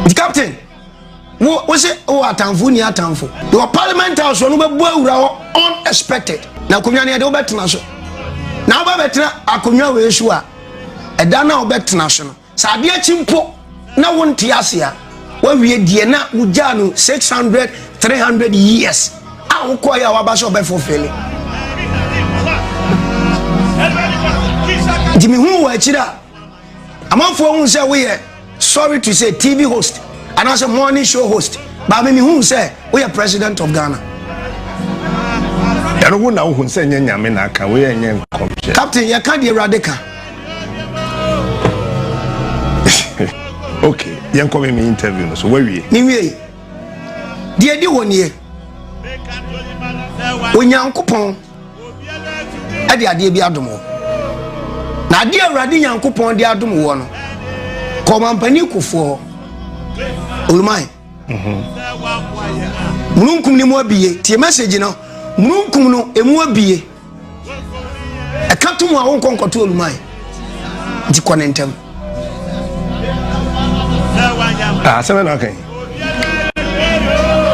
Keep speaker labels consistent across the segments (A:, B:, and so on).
A: nti captain wo wo se wo atamfo ni atamfo yɛwɔ parliament house ɔno bɛbɔ awura hɔ unexpected na akonnwa no yɛde wobɛtena so na woba bɛtena akonnwa wei so a ɛda no a wobɛtena so no sɛ adeɛ kyi mpo na wonte ase a woawie deɛ na wogyaa no 600 300 years a wokɔeɛ a woaba sɛ ɔbɛfofele nti mehu wɔ akyiri a amanfoɔ hu sɛ woyɛ sorry to say tv host anaasɛ morning show host baame mehu sɛ woyɛ president of ghana
B: ɛno wo na wohu sɛ nyɛ nyame na aka woyɛ nyɛ nkɔmhyɛ captain yɛka deɛ awurade
A: ka
B: ok yɛnkɔ me me interview no so woawie mewiei
A: deɛ di hɔ nie onyankopɔn ɛde adeɛ bi adom wo na adeɛ awurade nyankopɔn de adom woɔ no kɔ mampani kofoɔ oluman mhm. mununkum no mu abie tie message no mununkum no ɛmu abie ɛka to mu a wonkɔ nkɔto oluman nti kɔ ne ntɛm
B: asɛm na aka yi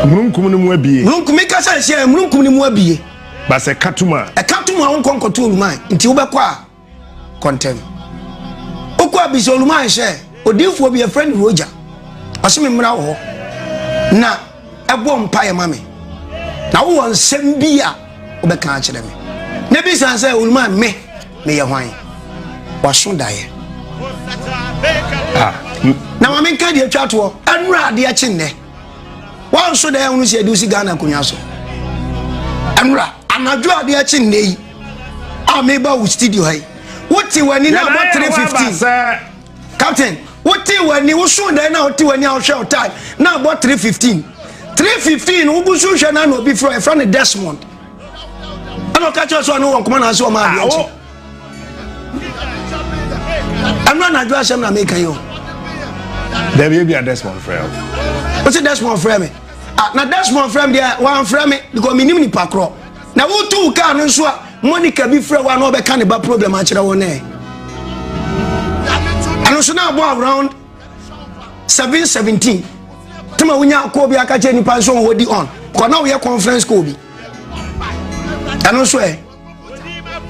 B: mununkum no mu abie mununkum mi kasa nhyɛ
A: mununkum no mu abie basɛ katum
B: a ɛka tum a wonkɔ nkɔto
A: oluman nti wobɛkɔ a kɔntɛm wokɔ a bisa oluman hyɛ odiifoɔ bi ɛfrɛ no roja ɔse me mmra wɔ hɔ na bɔ mpaeɛ ma me na wowɔ nsɛm bi a wobɛka akyerɛ me na bisa sɛ owuruma me meyɛ hwan waso daeɛ ah, na ma menka deɛ atwa toɔ ɛnura adeɛ kye nnɛ wanso daeɛ wono sɛ ɛde wosi ghana akonnwa so ɛnura anadwo adeɛ kye nnɛ yi a meba wo studio ha yi wote w'ani no abɔ 315 Captain, wotee w'ani wosoo dan na wote w'ani a wohwɛ wo time na abɔ 315 315 no wogu so hwɛ no ana obi frɛ ɛfrɛ no Desmond ɛna ɔka kyerɛ sɛ ɔne wɔ nkɔmɔ naase ɔma adeɛ nkye ɛno anadwo asɛm na meka yi o
B: dabi ebi a Desmond frɛ o wosi
A: Desmond frɛ me ah na Desmond frɛ me deɛ wɔamfrɛ me because menim nipa korɔ Na woto wo kaa no nso a Monica bi frɛ wo a na ɔbɛka ne ba problem akyerɛ wo nɛ ɛno nso na abɔ around 717 tama wonya kɔɔ bi aka kyerɛ nnipa nso ɔwɔ di on kɔ na woyɛ conference kɔɔ bi ɛno nso ɛ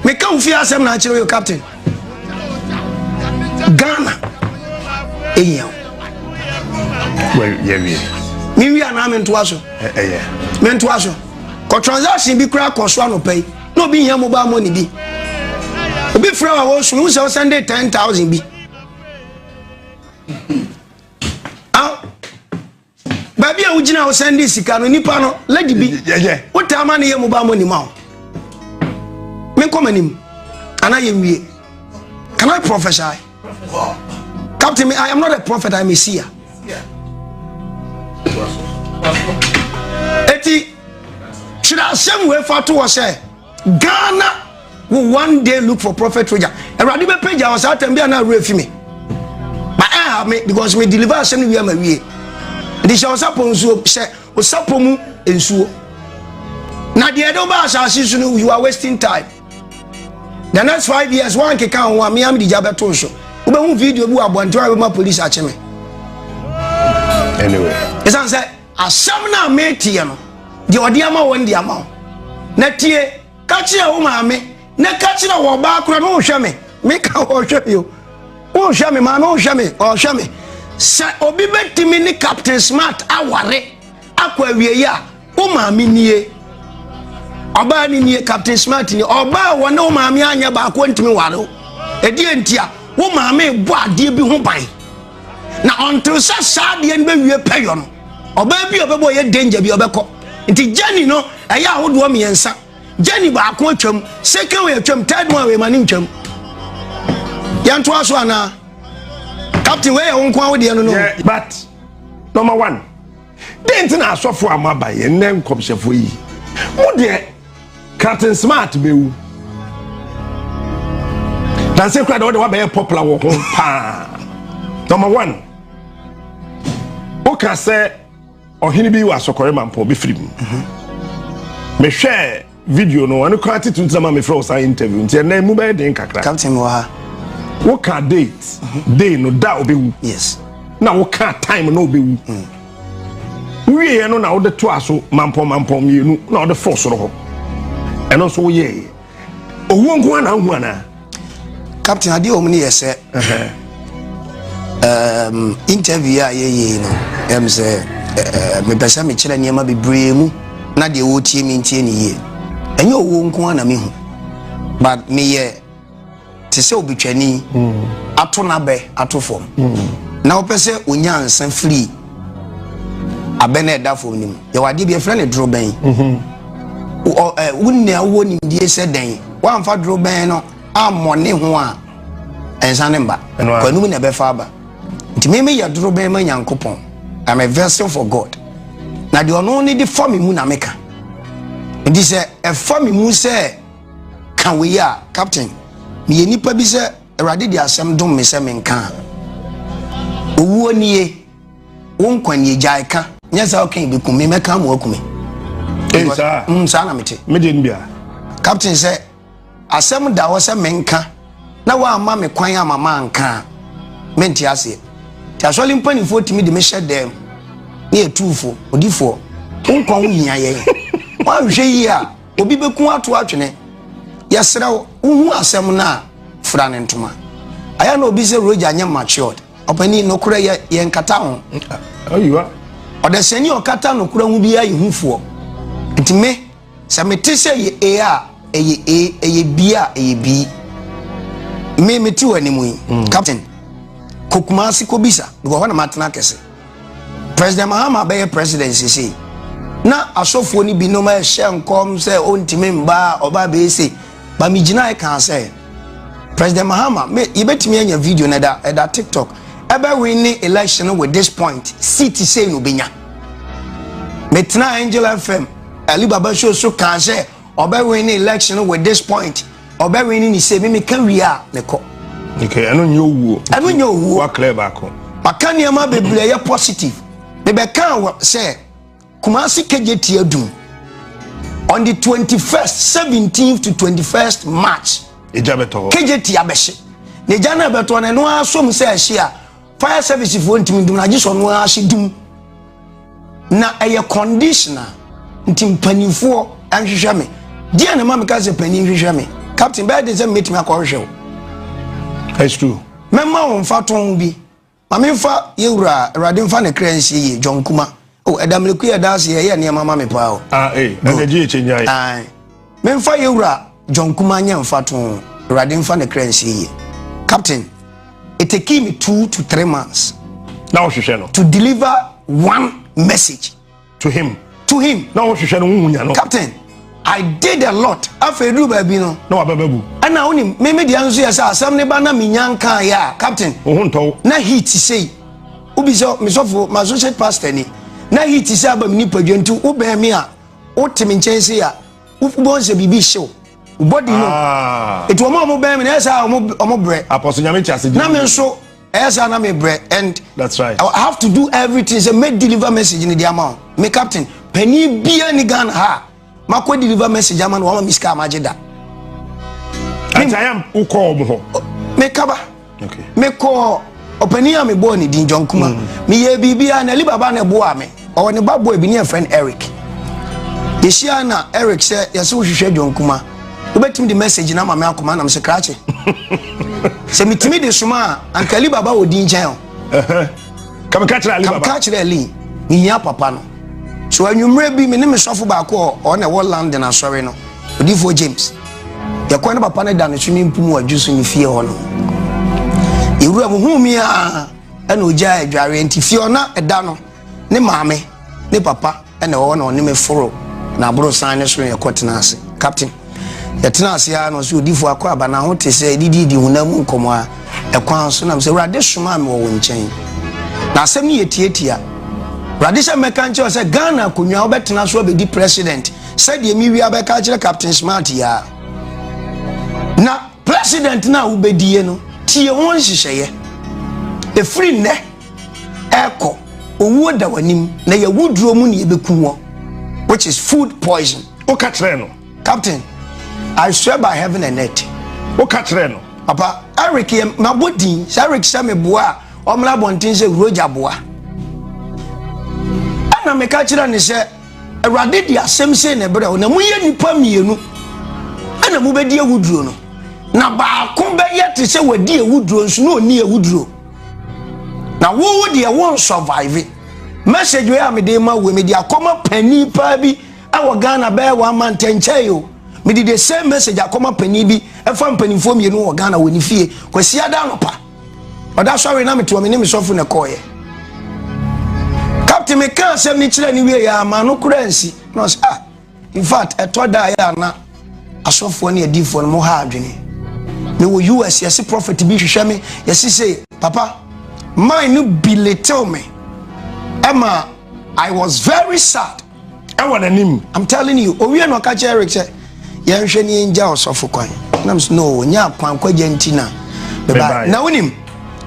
A: meka wo fie asɛm na akyerɛ yo captain ghana ɛhia
B: wo yɛwie mewie anaa
A: mentoa so mentoa
B: so
A: kɔ transaction bi koraa kɔ so anɔpa yi na obi hia mobile money bi obi frɛ wa wɔ so wohu sɛ wosɛnde 10000 bi baabi a wogyina wo sɛn de sika no nipa no lady bi wotaa ma ne
B: yɛ mobaa
A: mɔ nima wo menkɔ m'anim anaa yɛnwie can i prophesy captain me i am not a prophet i am a seer eti twerɛ asɛm wei fa to hɔ sɛ Ghana will one day look for prophet Roger. Awurade bɛ pagya wɔ saa atɛm bi a na awura fi me. Ma ɛha me because me deliver asɛm no wie ama wie. Nti hyɛ ɔsapɔ nsuo hyɛ ɔsapɔ mu nsuo. Na deɛ ɛde wobaa asase so no you are wasting time. The next five years wankeka ho a mea mede gya bɛto so. Wobɛhu video bi wɔ abɔnten a bɛma police akye me.
B: Anyway. Ɛsan sɛ
A: Asɛm no a meteɛ no, deɛ ɔde ama wɔn de ama wo. Na tie, ka kyerɛ wo maame, na ka kyerɛ wɔ ɔbaa korɔ no nhwɛ me, me ka ɔhwɛ me o, wonhwɛ me maame ɔhwɛ me, ɔhwɛ me. Sɛ obi bɛtumi ne Captain Smart aware akɔ awieɛ a, wo maame nie. Ɔbaa no nie, Captain Smart nie. Ɔbaa a wɔne wo maame anyɛ baako ntumi ware wo. Ɛdeɛ ntia, wo maame bɔ adeɛ bi ho ban. na ɔntew sɛ saa adeɛ no bɛwie pɛyɔ no ɔbaa bi a ɔbɛbɔ ɔyɛ danger bi ɔbɛkɔ nti gyani no ɛyɛ ahodoɔ mmiɛnsa gyani baako atwam second wei atwam third one wei ma ne ntwam yɛntoa so anaa captain wei yɛ wo nko a wodeɛ no no but
B: number one Dɛn nti na asɔfo a moaba yɛ nnɛ nkɔmhyɛfo yi? Mo deɛ, kraten smart bɛwu. Danse kora deɛ wode wabɛyɛ popular wɔ ho paa. Number one, woka sɛ ɔhene bi wɔ asɔkɔre mampɔn bɛfiri mu. Mhm. Mehwɛɛ Video no ɛno koraa titiri ntina ma mi fira o saa interview nti ɛnna emu bɛyɛ den kakra. Captain wɔ ha. Wo ka date mhm. day no da obe wu. Yes. Na wo ka time na obe wu. Mm. Wie yɛ no na wode to aso mampɔn mampɔn mmienu na wode fɔ soro hɔ. Ɛno nso woyɛ yɛ. Owuo nko ara na ahu anaa. captain
A: adeɛ wɔn yɛ sɛ um, interview a yɛyɛ no ɛm sɛ mepɛ sɛ mekyerɛ nneɛma bebree mu na deɛ wɔtie me ntie ne yie ɛnyɛ owuo nko a na mehu but meyɛ te sɛ obitwani hmm. ato n'abɛ ato fam hmm. na wopɛ sɛ onya nsa firi abɛn na ɛda fam no mu yɛwɔ adeɛ bi yɛfrɛ no dorobɛn wo nea wowɔ nimdie sɛ dɛn woamfa dorobɛn no ammɔ ne ho a ɛnsa ne mba kwanum na ɛbɛfa aba nti me meyɛ dorobɛn ma nyankopɔn I'm a vessel for God na deɛ ɔno ne de fa me mu na meka nti sɛ ɛfa me mu sɛ ka wei a captain meyɛ nipa bi sɛ Awurade de asɛm dom me sɛ menka a, Owuo nie, wo nkwa nie, gyae ka. Nyɛ saa ɔka yi bɛkum me, mɛka ama waku me. Ee saa? Mm, saa na mete. Me deɛ no bia.
B: Captain sɛ,
A: asɛm da hɔ sɛ menka na woamma me kwan ama manka a, mente aseɛ. Nti asɔre mpanimfoɔ tumi de mehyɛ dɛm ne yɛtuufo, odifoɔ, wo nkwa ho hia yɛn. Woanhwɛ yie a, Obi bɛku ato atwene. Yɛsrɛ wo, wohu asɛm no a, fira no ntoma. Ayɛ na obi sɛ Roger nyɛ matured. Ɔpanin, nokorɛ yɛ, yɛnkata ho. Ayiwa.
B: Ɔdasani
A: a ɔkata nokorɛ ho biara yɛ hufoɔ. Nti me, sɛ mete sɛ ɛyɛ ee a, ɛyɛ ee, ɛyɛ bii a, ɛyɛ bii. Me, mete w'anim yi. Mm. Captain, kɔ Kumasi kɔbisa, because hɔ na matena kɛse. President Mahama bɛyɛ president sesei na asɔfoɔ no binom ɛhyɛ nkɔm sɛ ɔntumi mba a ɔba bɛyɛ sei ba megyinae kaa sɛ President Mahama me yɛbɛtumi anya video no ɛda ɛda TikTok ɛbɛwe ne election with this point seat sei no bɛnya metena Angel FM Alibaba show so kaa sɛ ɔbɛwe ne election with this point Ɔbɛ win ni se mi mi ka wie a me kɔ. Okay, ɛno nyɛ
B: owuo. Ɛno nyɛ owuo. Wa clear baako. Maka nneɛma
A: bebree yɛ positive. Mebɛka wɔ sɛ Kumasi kegyeti adum on the 21st 17th to 21st March. Egya bɛtɔ hɔ.
B: Kegyeti abɛhye.
A: Na egya no ɛbɛtɔ no ɛno ara som sɛ ɛhye a fire service foɔ ntumi dum no agye sɛ ɔno ara ase dum na ɛyɛ conditioner nti mpanimfoɔ nhwehwɛ me deɛ na ma meka sɛ panin hwehwɛ me captain bɛyɛ de sɛ mɛtumi akɔhwehwɛ wo
B: that's true mɛma wo mfa
A: tɔn bi ma memfa yɛwura awurade mfa ne kra nsie yie john kuma Oh, ɛda meleku yɛ danse yɛ yɛ nneɛma ma me paa o. Ah, eh, ɛna gye ekye
B: nyae. Ah, memfa yɛ
A: wura John Kuma nyɛ mfa to ho. Awurade mfa ne kra nsie yie. Captain, it took me two to three months. Na wohwehwɛ no.
B: To deliver
A: one message. To him.
B: To him. Na wohwehwɛ
A: no wohu nya no.
B: Captain, I
A: did a lot. Afei duru baabi no. Na wabɛbɛ gu. Ɛna
B: wonim, me me
A: deɛ nso yɛ sɛ asɛm ne ba na menya nkaa yɛ a, Captain. Wo ho ntɔw. Na heat
B: sei.
A: Wobisa me sɔfo, m'associate pastor ni. Na heat sɛ aba me nipadua nti wobɛn me a wote me nkyɛn sei a wobɛhu sɛ biribi hyɛ wo wo body no ah. ɛti wɔn a wɔbɛn me na ɛyɛ sɛ wɔn brɛ apɔso nyame te ase na
B: me nso
A: ɛyɛ sɛ na me brɛ and that's right I have
B: to do everything
A: sɛ me deliver message ni di ama me captain panin bia ni Ghana ha makɔ deliver message ama no wama me sika a magye da
B: wokɔ ɔm hɔ mekaba
A: mekɔɔ ɔpanin a mebɔɔ ne din john kuma mm. meyɛɛ biribiaa na alibaba na ɛboaa me ɔwɔ ne ba boy bi ne ɛfrɛ no eric yɛhyia na eric sɛ yɛsɛ wohwehwɛ john kuma wobɛtumi de message no ama me akoma nam sɛ krakye sɛ metumi de soma a anka alibaba wɔ din nkyɛn o
B: Kame ka kyerɛ Ali baba. Kame ka kyerɛ Ali, me hia
A: papa no. So anwummerɛ bi, me ne me sɔfo baako a ɔwɔ na ɛwɔ London asɔre no, Odiyifoɔ James, yɛkɔɔ ne papa no da ne swimming pool mu adwo so ne fie hɔ no. Yɛwura mu huu me a, ɛna ɔgyaa adwareɛ nti fie hɔ na ɛda no ne maame ne papa Ɛna ɛwɔ hɔ na ɔne me foro na aborosan no so na yɛkɔ tena ase. Captain, yɛtena ase ara na ɔsɛ odifo akɔ aba na ho te sɛ didi di honam mu nkɔmɔ a ɛkwan so nam sɛ Awurade somaa me wɔ wo nkyɛn. Na asɛm no yɛ tiatia. Awurade sɛ mɛka nkyerɛ sɛ Ghana akonnwa wobɛtena so abɛdi president sɛdeɛ me wia bɛka akyerɛ Captain Smart yi a. Na president no a wobɛdie no tie ho nhyehyɛeɛ. Ɛfiri nnɛ ɛkɔ owuo da w'anim na yɛ wuduro mu ne yɛbɛku wɔ which is food poison woka kyerɛ no
B: captain
A: I swear by heaven and earth woka
B: kyerɛ
A: no papa Eric yɛ mabɔ
B: din
A: sɛ Eric sɛ
B: meboa
A: a ɔmmra abɔnten sɛ wurogya boa ɛna meka kyerɛ ne sɛ awurade de asɛm sei ne berɛ wo na moyɛ nnipa mmienu ɛna mobɛdi awuduro no na baako bɛyɛ te sɛ wadi awuduro nso na ɔnni awuduro na wo wo deɛ wo nsurvive message wei a mede ma wo mede akɔma panin paa bi ɛwɔ ghana bɛyɛ wɔn ama ntɛnkyɛn yi o mede the same message akɔma panin bi ɛfa mpanimfoɔ mmienu wɔ ghana wɔ ne fie kwasi ada anɔpa ɔda sɔre na metoɔ me ne me sɔfo na ɛkɔɔyɛ captain mekaa asɛm ne kyerɛ ne wie yɛ ama no kora nsi na ɔsɛ ah In fact, ɛtɔ da a na asɔfoɔ ne adiifoɔ no mo ha adwene. Mewɔ US yɛse prophet bi hwehwɛ me yɛse se papa mine no bi little me ɛma I was very sad ɛwɔ n'anim. I'm telling you owie na ɔka kyerɛ Eric sɛ yɛnhwɛ ne yɛngya ɔsɔfo kwan nam so no nya akwan kwagya nti na bɛba na wonim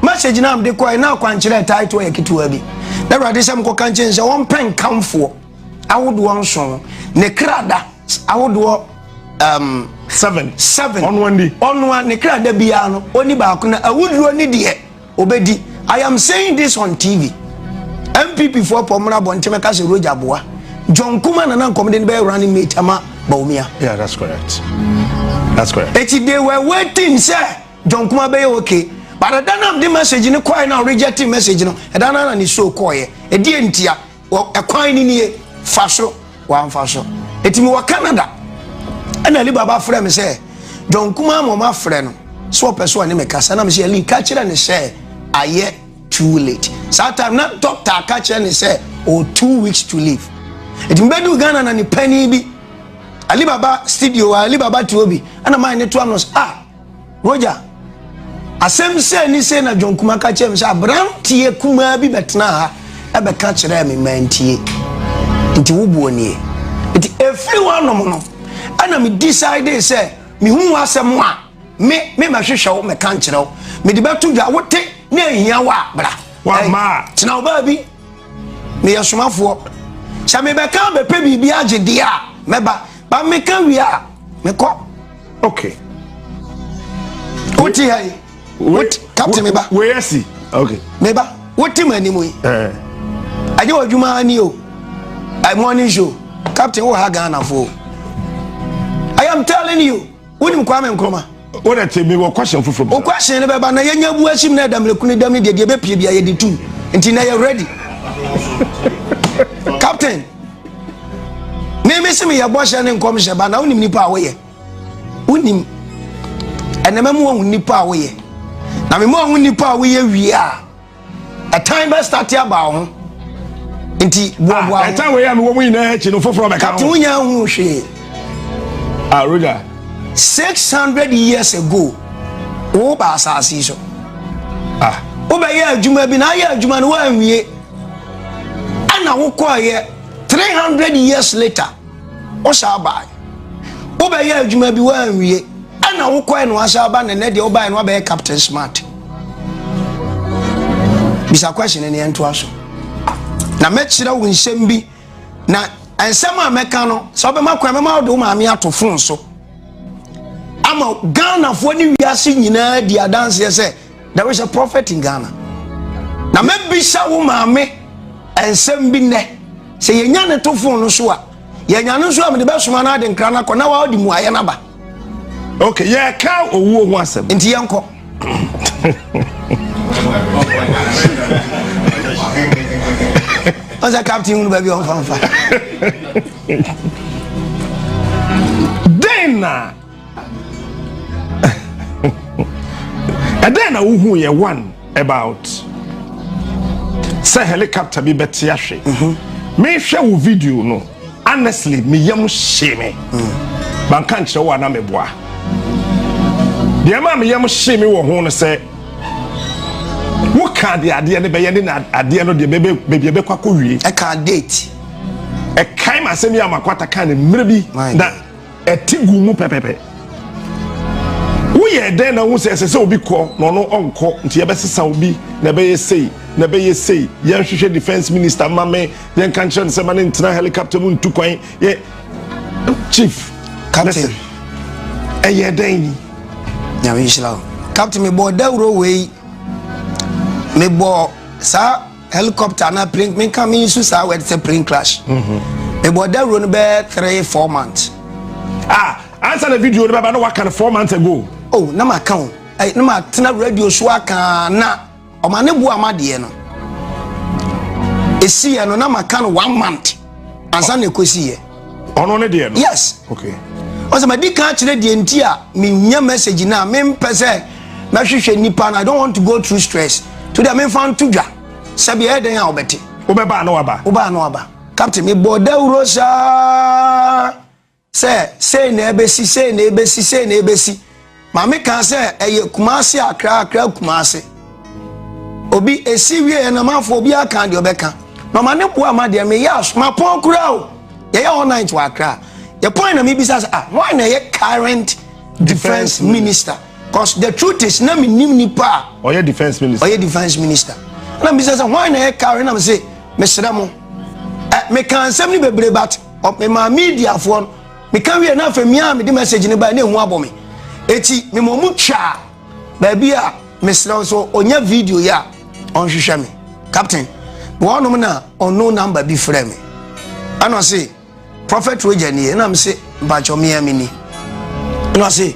A: message na mde kɔɛ na akwankyerɛ title yɛ ketewa bi na awurade sɛ mkɔka nkyɛn sɛ wɔmpɛ nkamfoɔ ahodoɔ nson ne krada ahodoɔ um, seven seven ɔnoa ni ɔnoa ne krada biara no ɔni baako na awuduro ne deɛ ɔbɛdi i am saying this on tv mpp foɔ pɔ mmra abɔnten mɛka sɛ roger boa john kuma na na nkɔmde no bɛyɛ running mate ama baomia yeah that's correct
B: that's correct eti they were waiting
A: sɛ john kuma bɛyɛ okay but ɛda no a mede message no kɔɛ na ɔrejecte message no ɛda no na ne show kɔɔyɛ ɛdeɛ ntia wɔ ɛkwan no nie fa so wamfa so ɛti mi wɔ Canada ɛna Ali Baba frɛ me sɛ John Kuma ma ɔma frɛ no sɛ ɔpɛ so ɔne me kasa na me sɛ Ali ka kyerɛ ne sɛ ayɛ too late saa time na doctor aka kyerɛ ne sɛ or two weeks to live ɛti mebɛdu Ghana na ne panin bi Ali Baba studio Ali Baba tuo bi ɛna maa ne to ano ah Roger, Asɛm sei ne sei na John Kuma ka kyerɛɛ me sɛ aberanteɛ kumaa bi bɛtenaa ha ɛbɛka kyerɛɛ me mantie. Nti wo boɔ nie. Nti ɛfiri woanom no ɛna me decide sɛ mehu w'asɛm a me me mɛhwehwɛ wo mɛka nkyerɛ wo mede bɛto dwa wote ne ahia wo a bra. Wamaa. Tena
B: wo baabi
A: meyɛ somafoɔ sɛ mebɛka bɛpɛ biribi agye deɛ a mɛba ba meka wie a mekɔ. okay wote ha yi wote captain meba wei asi
B: okay meba wote
A: mu anim yi ɛnyɛ wɔ adwuma ani o morning show captain wɔ ha ghana fo i am telling you wonim kwame nkroma o de te mi wɔ
B: question foforɔ bi o question ne bɛba na
A: yɛnya bu ahyim na ɛdamlekuni dam ne deɛ deɛ bɛpie bia yɛde tum nti na yɛ ready captain me me se meyɛ bɔhyɛ ne nkɔmhyɛ ba na wonim nipa a woyɛ wonim ɛnɛ mɛma wahu nipa a woyɛ na mema wahu nipa a woyɛ wie a ɛtan bɛstate aba wo ho nti boaboa ah, ɛtan wei a mewɔ mu
B: nyinaa akyi no foforɔ bɛka kate wonya hu hwee
A: ah,
B: roger
A: 600 years ago wo ba asase so ah. wobɛyɛ adwuma bi na ayɛ adwuma no woanwie ɛna wokɔeɛ three hundred years later wosaa bae wobɛyɛ adwuma bi woanwie ɛna wokɔe no asa aba na ɛnɛ deɛ wobae no wabɛyɛ captain smart bisa question ne ɛntoa so na mɛkyerɛ wo nsɛm bi na nsɛm a mɛka no sɛ wobɛma kwan mɛma wode wo maame ato fon so ama ghanafoɔ ne wiase nyinaa di adanseɛ sɛ There is a prophet in Ghana. Na mɛbisa wo maame nsɛm bi nnɛ. Sɛ yɛnya ne to fon no so a, yɛnya no nso a mede bɛsoma no ade nkra no akɔ na wɔde mmuaeɛ no aba. Okay,
B: yɛka owuo ho asɛm. Nti yɛnkɔ.
A: ɔsɛ captain hunu baabi ɔmfamfa
B: dɛn na ɛdɛn na wohu yɛ one about sɛ helicopter bi bɛte ahwe mhm. mehwɛ wo video no honestly me yam hyee me mm. manka nkyerɛ wo a na meboa deɛ ma me yam hyee me wɔ ho no sɛ woka deɛ adeɛ no bɛyɛ ne na adeɛ no deɛ baabi ɛbɛkɔ akɔ wie ɛka date
A: ɛkae
B: ma asɛm yi a makwata ka ne mmerɛ bi na ɛte gu mu pɛpɛpɛ woyɛ dɛn na wohu sɛ ɛsɛ sɛ obi kɔ na ɔno ɔnkɔ nti yɛbɛsesa obi na ɛbɛyɛ sei na ɛbɛyɛ sei yɛnhwehwɛ defense minister ma me yɛnka nkyerɛ no sɛ ma ne ntena helicopter mu ntu kwan yɛ chief captain
A: ɛyɛ dɛn ni nyame nhyira wo captain mebɔɔ dawuro wei mebɔɔ saa Helicopter anaa plane me nka me use saa word sɛ plane crash. Mm-hmm. Me bɔ dawuro no bɛyɛ three four months. Ah,
B: ansa na video no bɛba na waka no four months ago. Oh, na ma ka o.
A: Eh, na ma tena radio so aka na ɔma ne bu ama deɛ no. Esi yɛ no na ma ka no one month. Ansa na ekosi yɛ. ɔno ne deɛ no
B: yes okay ɔsɛ madi kan
A: akyerɛ deɛ nti a menya message no a mempɛ sɛ mɛhwehwɛ nnipa no i don't want to go through stress to deɛ memfa nto dwa sɛ beɛ ɛdɛn a wobɛte wobɛbaa na waba
B: wobaa na waba
A: captain mebɔ dawuro saa sɛ sei na ɛbɛsi sei na ɛbɛsi sei na ɛbɛsi Maame kaa sɛ ɛyɛ Kumasi Akra Akra Kumasi. Obi esi wie yɛ na manfo obi aka deɛ ɔbɛka. Na ɔma ne boa ma deɛ meyɛ aso ma pɔn koraa o. Yɛyɛ all night wɔ Akra. Yɛ pɔn na mebisa sɛ ah wɔn na ɛyɛ current defense minister. Cause the truth is na menim nipa a. Ɔyɛ defense minister.
B: Ɔyɛ defense minister. Na mebisa sɛ wɔn na ɛyɛ current na mese
A: mesrɛ mo. Eh, meka nsɛm no bebree but mema mediafoɔ no Meka wiei na afei mia a mede message no bae na ehu abɔ me. Eti mema ɔmo twaa baabi a mesrɛ wo sɛ onya video yi a ɔnhwehwɛ me. Captain, mewɔ hɔnom na unknown number bi frɛɛ me. Ɛna ɔse, Prophet Roger nie? Ɛna mese, mpakyɛw mea mini. Ɛna ɔse,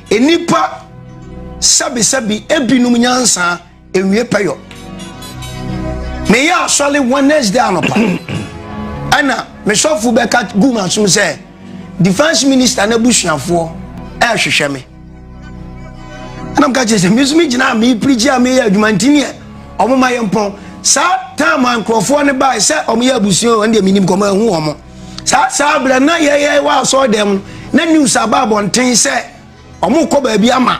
A: Nnipa sɛbisɛbi ebinom nyansa ewie pɛyɔ. Meyɛ asɔre Wednesday anɔpa ɛna me sɔfo bɛka gu m'asom sɛ defence minister n'abusuafoɔ ɛrehwehwɛ me. Ɛna meka kyerɛ sɛ me nso megyina a mereprigye a meyɛ adwuma nti neɛ ɔmo ma yɛ mpɔn. Saa time a nkurɔfoɔ no bae sɛ ɔmo yɛ abusua wɔn deɛ menim kɔma ahu ɔmo. saa saa berɛ na yɛyɛ wɔ asɔre dɛm no na news aba abɔnten sɛ ɔmo kɔ baabi ama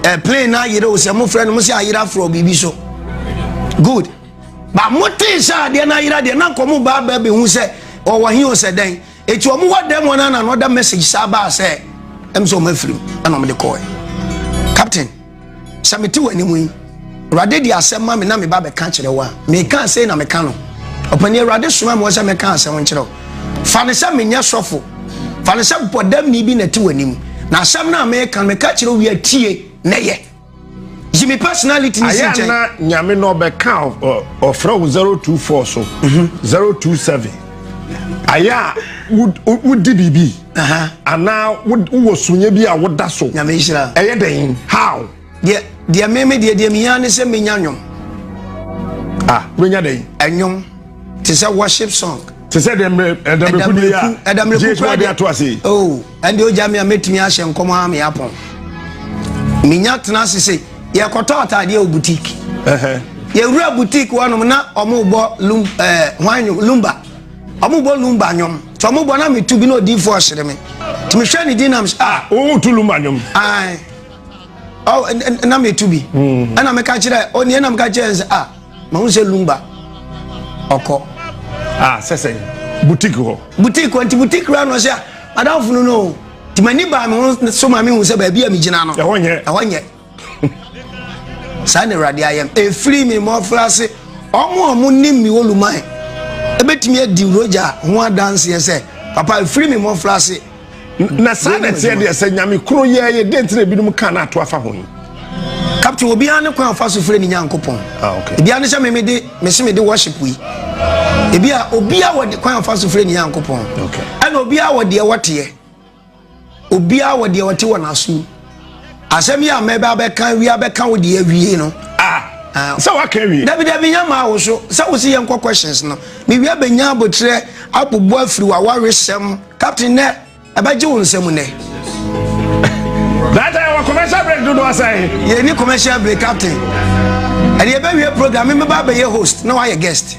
A: ɛ plane na ayere o sɛ mo frɛ no mo sɛ ayere aforɔ biribi so good ba mo tee sɛ adeɛ no ayera deɛ na nkɔmo baa baa bɛhu sɛ ɔwɔ he o sɛ dɛn eti ɔmo wɔ dɛm wɔn ana na ɔda message saa baa sɛ ɛm sɛ ɔmo afirim ɛna ɔmo de kɔɛ captain. Sɛ mete w'anim yi, Awurade de asɛm ma me na meba bɛka kyerɛ wo a, meka asɛm na meka no. Ɔpani Awurade soma me sɛ meka asɛm nkyerɛ wo. Fa no sɛ menyɛ sɔfo, fa no sɛ bɔdamni bi na ɛte w'anim. Na asɛm no a meka no, meka kyerɛ wo wie atie na yɛ. Yi me personality ne si nkyɛn. Ayɛ na nyame na
B: ɔbɛka ɔfrɛ wo 024 so, 027. Mhm. Ayɛ a wodi biribi. Anaa wowɔ sunyɛ bi a woda so. Nyame nhyira. Ɛyɛ dɛn?
A: How?
B: Deɛ deɛ
A: me me deɛ deɛ mihia ne sɛ menya nnwom. Ah, wobɛnya
B: dɛn? Ɛnwom
A: te sɛ worship song. Te sɛ dɛmmerɛ
B: ɛdɛmmerɛku deɛ a. Ɛdɛmmerɛku kura deɛ ato ase. Oh, ɛnde ogya
A: mi a mɛtumi ahyɛ nkɔm a me apɔn. Menya tena ase se yɛkɔtɔ ataadeɛ wɔ boutique. Yɛwura boutique wɔnom na ɔmo bɔ lumba. Ɔmo bɔ lumba nwom nti ɔmo bɔ na mi tu bi na odiifo ɔhyere mi nti mi hwɛ ne din na mi sɛ ah. Owo tu lumba nwom.
B: Ayi
A: ɔ na mi tu bi mm. ɛna mi ka kyerɛ ɔni ɛna mi ka kyerɛ nsɛ ah ma ho sɛ lumba ɔkɔ. Ah
B: sɛsɛ boutique hɔ. Boutique hɔ nti boutique
A: kura na ɔsɛ ah, madam funu no o nti ma ni ba mi ho so ma mi hu sɛ baabi a mi gyina no ɛhɔ nyɛ ɛhɔ nyɛ. saa na awurade ayɛ m ɛfiri me mmɔfraase ɔmo a ɔmo nim me oluman ɛbɛtumi adi rogya ho adanseɛ sɛ papa ɛfiri me mmɔfraase na saa
B: na ɛteɛ deɛ sɛ nyame koro yɛɛyɛ dɛn nti na ebinom ka no ato afa ho yi captain
A: obiara ne kwan afa so frɛ ne nyankopɔn ah, ebiara ne sɛ
B: memede
A: mese mede worship yi ebia obiara wɔ kwan afa so frɛ ne nyankopɔn ɛna obiara
B: wɔ deɛ
A: wɔteɛ Obiara wɔ deɛ ɔte wɔ n'asom. Asɛm yi a mɛbɛ abɛka awia bɛka wo deɛ awie no. Ah, ah. Sɛ
B: waka awie. Dabi dabi nyɛ maa wo so.
A: Sɛ wo se yɛn kɔ questions no. Me wia bɛnya abotrɛ abobo afiri wa waresɛm. Captain nɛ ɛbɛgye wo nsɛm nɛ.
B: Data yɛwɔ commercial break dodo asɛn. Yɛni commercial break
A: captain. Ɛde yɛbɛwie program, me mɛba abɛyɛ host na wayɛ guest.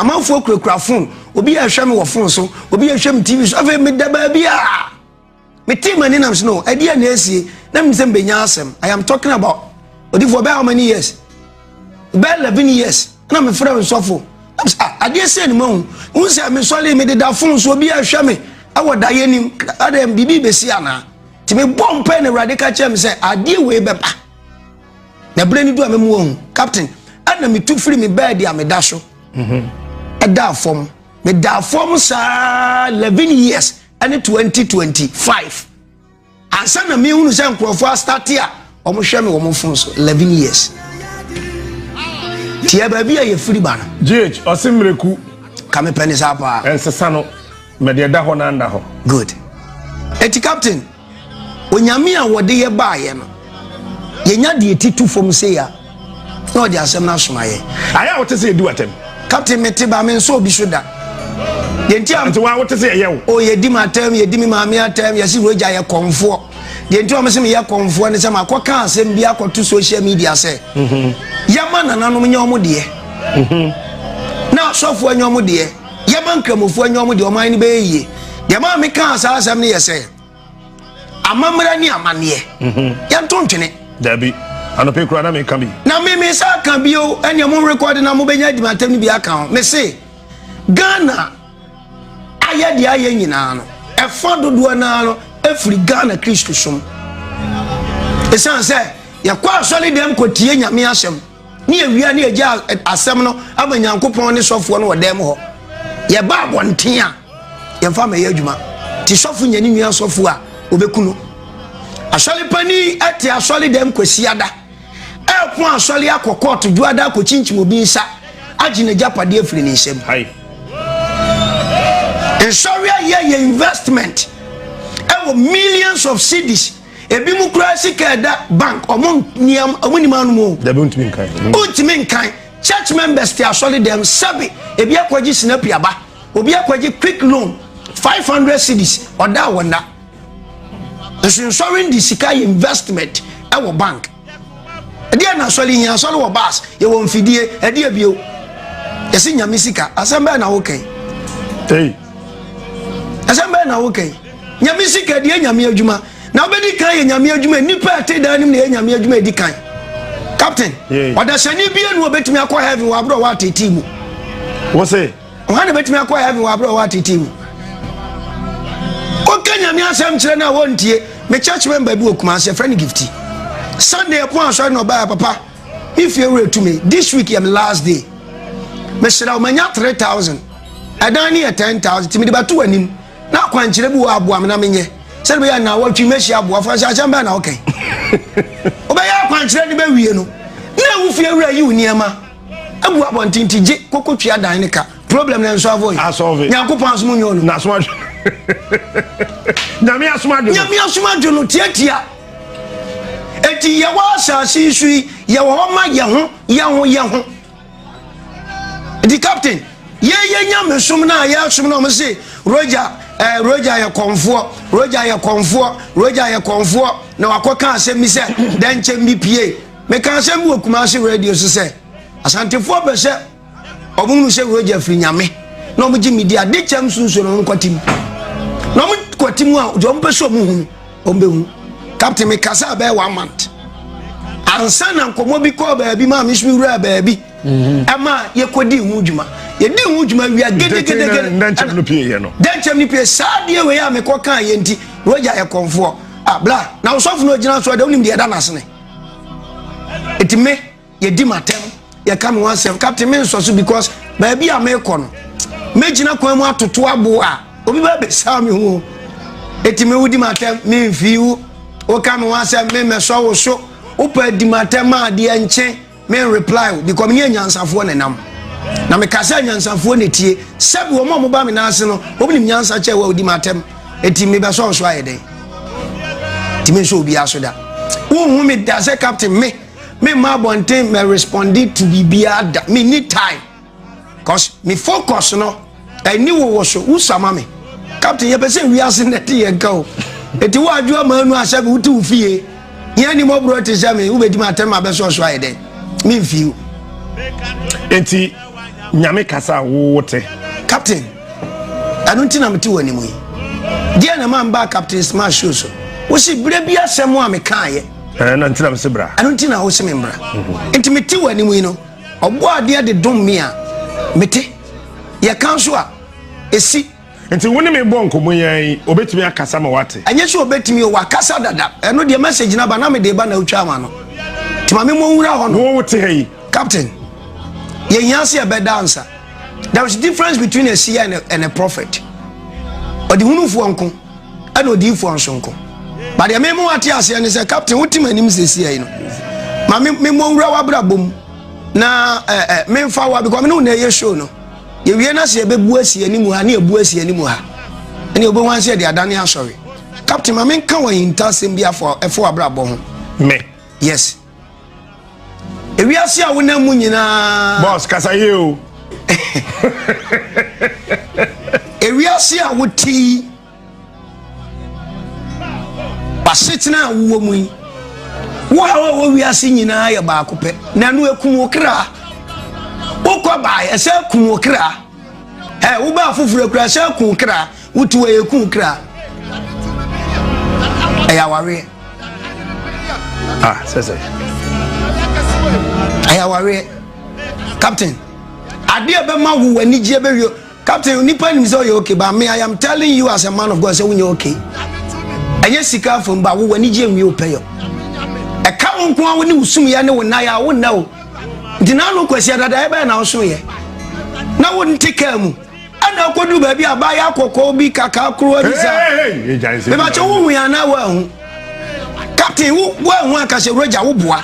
A: amanfoɔ kurakura fon obi yɛ hwɛ me wɔ fon so obi yɛ hwɛ me tv so afei meda baabi a metee m'ani nam so no ɛdeɛ oh, na ɛsie na menim sɛ mbɛnya asɛm i am talking about odifoɔ bɛyɛ how many years bɛyɛ eleven years na mefrɛ nsɔfo ah, adeɛ sɛ ne mahu wohu sɛ mesɔre mededa fon so obi ahwɛ me ɛwɔ da yɛ nim adɛ biribi bɛsi anaa nti mebɔ mpɛ na awurade ka kyerɛ me sɛ adeɛ wei bɛba na berɛ no du a memu ahu captain ɛna metu firi me bɛɛdi a meda so mhm. ɛdaa fam medaa fam saa 11 years ɛne 2025 ansa na mehunu sɛ nkurɔfoɔ astate a wɔhwɛ me wɔn fon so 11 years tiɛ baabi a yɛfiri ba no gh ɔse mmerɛku
B: ka mepɛ ne
A: saa paa ɛnsesa no
B: mɛdeɛ da hɔ no anda hɔ good
A: ɛti captain Onyame a wɔde yɛ baayɛ no, yɛnya deɛ ti tu fam sei a, na ɔde asɛm no asoma yɛ. Ayɛ a wote sɛ yɛdi
B: w'atɛm. Captain mete ba me
A: nsɔ obi so da. Deɛ nti a. Nti wa wote sɛ yɛyɛ wo. O
B: yɛdi m'atɛm, yɛdi
A: me maame atɛm, yɛse Roger yɛ kɔmfoɔ. Deɛ nti a wɔse meyɛ kɔmfoɔ ne sɛ makɔka asɛm bi akɔto social media sɛ mhm. yɛma nananom nyɛ wɔn deɛ mhm. na asɔfoɔ nyɛ wɔn deɛ. yɛma nkramofoɔ nyɛ wɔn deɛ wɔn ayɛ no bɛyɛ yie deɛ maa mi kaa saa asɛm no yɛ sɛ amammerɛ ne amanneɛ mhm. yɛnto ntwene dabi
B: anɔpɛ kura na mi ka bi na mi mi sa ka
A: bi o ɛnna mo rekɔde na mo bɛnya adimatam no bi aka ho mi se ghana ayɛ deɛ ayɛ nyinaa no ɛfa dodoɔ naa no efiri ghana kristu som esan sɛ yɛkɔ asɔre dɛm kɔ tie nyame asɛm. Ne awia ne agya asɛm no ama nyankopɔn ne sɔfoɔ no wɔ dan mu hɔ yɛba abɔnten a yɛmfa mɛyɛ adwuma nti sɔfo nya ne nua sɔfo a wɔbɛku no asɔre pani te asɔre dɛm kwasiada ɛko asɔre akɔ kɔɔto dwoada akɔkyinkyim obi nsa agye n'agyapadeɛ afiri ne nsam nsɔre ayɛ yɛ investment ɛwɔ millions of cities Ebinom koraa sika ɛda bank ɔmo nniam ɔmo nim anom o. Dabi ntumi nkan.
B: Ntumi nkan.
A: Church members te asɔre dɛm sɛbi ebi akɔgye sinapi aba obi akɔgye quick loan five hundred cedis ɔda wɔ nna. Nso nsɔre de sika yɛ investment ɛwɔ bank. ɛdeɛ na asɔre hia asɔre wɔ bus yɛwɔ mfidie ɛdeɛ bio yɛsi nyame sika asɛm bɛyɛ na wokɛn asɛm bɛyɛ na wokɛn nyame sika ɛdeɛ nyame adwuma na wobɛdi kan yɛ nyame adwuma nnipa ɛte daa nim na yɛ nyame adwuma ɛdi kan captain ɔdasani bie nu ɔbɛtumi akɔ heaven wɔ aberɛ ɔwɔ atetii mu wɔ se
B: Hwan na obetumi akɔ
A: heaven wɔ abere a ɔwɔ ateetee mu? Woka Nyame asɛm kyerɛ no a wontie. Me church member bi wɔ Kumasi, yɛfrɛ no Gifty. Sunday ɛpon asɔre na ɔbaa papa. Me fie wura tu me. This week yɛ me last day. Mehyira wo manya 3000. Ɛdan no yɛ 10000 ti mede bɛto w'anim. Na akwankyerɛ bi wɔ aboa me na menyɛ. Sɛde bɛyɛ na wɔtwe mɛhyia aboa fo sɛ asɛm bɛn na ɔkɛn. Wobɛyɛ akwankyerɛ ne bɛwie no. Na wo fie wura yi wo nneɛma. Egu abɔnten ti gye koko tua dan ne ka. Problem na nso avoid. Asɔve. Nyankopɔn asom nyɛ ɔno. Na soma dwo.
B: Nyame asom adwo no. Nyame asom adwo no tiatia.
A: Eti yɛ wɔ asase yi so yi yɛ wɔ hɔ ma yɛ ho yɛ ho yɛ ho. Eti captain yɛ yɛ nyame som na yɛ asom na ɔmo se roja ɛɛ eh, roja yɛ kɔnfoɔ roja yɛ kɔnfoɔ roja yɛ kɔnfoɔ na wakɔ ka asɛm bi sɛ dɛnkyɛm bi pie. Meka asɛm bi wɔ Kumasi radio so sɛ Asantefoɔ pɛ sɛ wɔn mu sɛ Roger firi Nyame na wɔn gye me di ade kyɛm sunsun na wɔn kɔte mu na wɔn kɔte mu a deɛ wɔn pɛ sɛ wɔn hu no wɔn bɛ hu Captain meka sɛ abɛɛ one month ansa na nkɔmɔ bi kɔɔ baabi maa mi nso wura baabi mhm. ɛma yɛkɔ di ho dwuma yɛdi ho dwuma wia gedegedegede dɛnkyɛm no pie yɛ no dɛnkyɛm no pie saa deɛ wei a mekɔ kaa yɛ nti Roger yɛ kɔnfoɔ abla ah, na ɔsɔfo no ogyina so a deɛ wonim deɛ ɛda n'asene ɛti me yɛdi m'atɛm yɛka me ho asɛm captain me nsɔ so because baabi a mekɔ no mɛgyina kwan mu atoto abo a obi bɛ bɛsaa me ho ɛti me wodi m'atɛm memfii wo woka me ho asɛm me mɛsɔ wo so wopɛ di m'atɛm a deɛ nkye me reply o because me yɛ nyansafoɔ na nam na me kasa nyansafoɔ na tie sɛbi wɔn a wɔn ba me nan ase no wɔn nim nyansa kyɛ wɔ odi ma atɛm eti me bɛ sɔn so ayɛ dɛ ti me nso obi aso da wɔn hu me da sɛ captain me me ma abɔnten mɛ respondi to biribiara da me ni time. cause me focus no ɛni wo wɔ so wusama me captain yɛpɛ sɛ wiase na ɛte yɛn ka o eti wo adwoa maa nu asɛ mi wote wo fie yɛn ni mɔborɔ te sɛ mi wobɛtumi atɛn ma bɛ sɔsɔ ayɛ dɛ mi nfi o.
B: eti nyame kasa a wowo te. captain
A: ɛno nti na mete wɔ anim yi deɛ na ma mbaa captain smart show so wosi berɛ bi asɛm a mekaayɛ ɛno nti na mese bra
B: ɛno nti na wose me mbra
A: mhm. nti mete wɔ anim yi no Ɔbɔ adeɛ de dom me a, mete. Yɛka nso a, ɛsi. Nti wo ne me
B: bɔ nkɔmmɔ yi ara yi, ɔbɛtumi akasa ma woate? Ɛnyɛ sɛ ɔbɛtumi o,
A: wakasa dada. Ɛno deɛ, message no aba, na mede reba na wotwaa ama no. Nti ma me mmɔ nwura hɔ no. Wo wote ha yi?
B: Captain,
A: yɛhia sɛ yɛbɛda ansa. There is difference between a seer and a, and a prophet. Ɔdehunufoɔ nko. ɛna odiyifoɔ nso nko ba deɛ meme wate aseɛ ne sɛ captain wotim anim sesiai no ma memmɔ nwura w'abrabɔ mu na eh, eh, memfa wa because mene wo na ɛyɛ show no yɛwie no sɛ yɛbɛbu asi anim ha ne yɛbu asi anim ha ɛne wobɛhu ase yɛde adane asɔre captain ma menka wɔ ahintasɛm bi afo abrabɔ ho me yes ewiase a wonam mu nyinaa. boss kasa yie o. ewiase a wote yi w'asetena a wowɔ mu yi wo haw a wɔ wiase nyinaa yɛ baako pɛ na ɛno ekum wo kra wokɔ baa ɛsɛ ekum wo kra ɛ wobaa foforɔ kura ɛsɛ ekum kra. Wotu a ɛku wo kra. Ɛyɛ awareɛ. Ah,
B: sɛ sɛ.
A: Ɛyɛ awareɛ. Captain, adeɛ bɛma wo w'anigyeɛ bɛwie. Captain, nipa nim sɛ ɔyɛ okay, but me, I am telling you as a man of God sɛ wonyɛ okay. Ɛnyɛ sika afom ba wo w'anigyeɛ nwie wo pɛyɛ. Ɛka wo nko a wo ne wo sumyɛ ne wo nnaeɛ a wo nna o. Nti na ano kwasi adadaeɛ bɛyɛ na wosoeɛ. Na wo nte kaa mu. ɛna akodu baabi a baayɛ akɔkɔɔ bi kakaa koro ani sa mebakyɛ wohu yɛ anaa woahu captain woahu ankasɛ wuragya woboa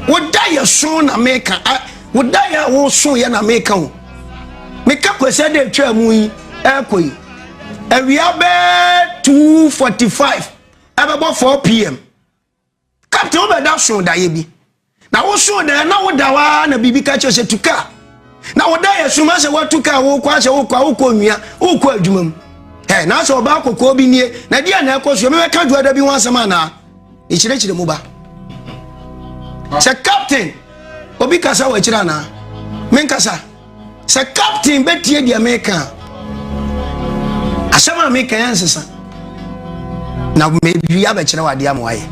A: woda yɛ so na meka woda yɛ a woso yɛ na meka o meka kwasɛ dɛ atwa mu yi ɛkɔ yi awia bɛɛ 245 ɛbɛbɔ 4 pm Captain wobɛda soo daeɛ bi na wosoo daeɛ na woda hɔ ara na biribi ka kyerɛ sɛ tu kaa na woda yɛ soma sɛ woatu kaa wokɔ asɛ wokɔ a wokɔ nnua wokɔ adwuma mu ɛ na sɛ ɔbaa kɔkɔɔ bi nie na deɛ na ɛkɔ soɔ mebɛka dwoada bi ho asɛm anaa ɛkyerɛkyerɛ mu ba sɛ captain obi kasa wɔ akyirɛ anaa menkasa sɛ captain bɛtie deɛ meka a asɛm a meka yɛ nsesa na mewie abɛkyerɛ w adeɛ ama wayɛ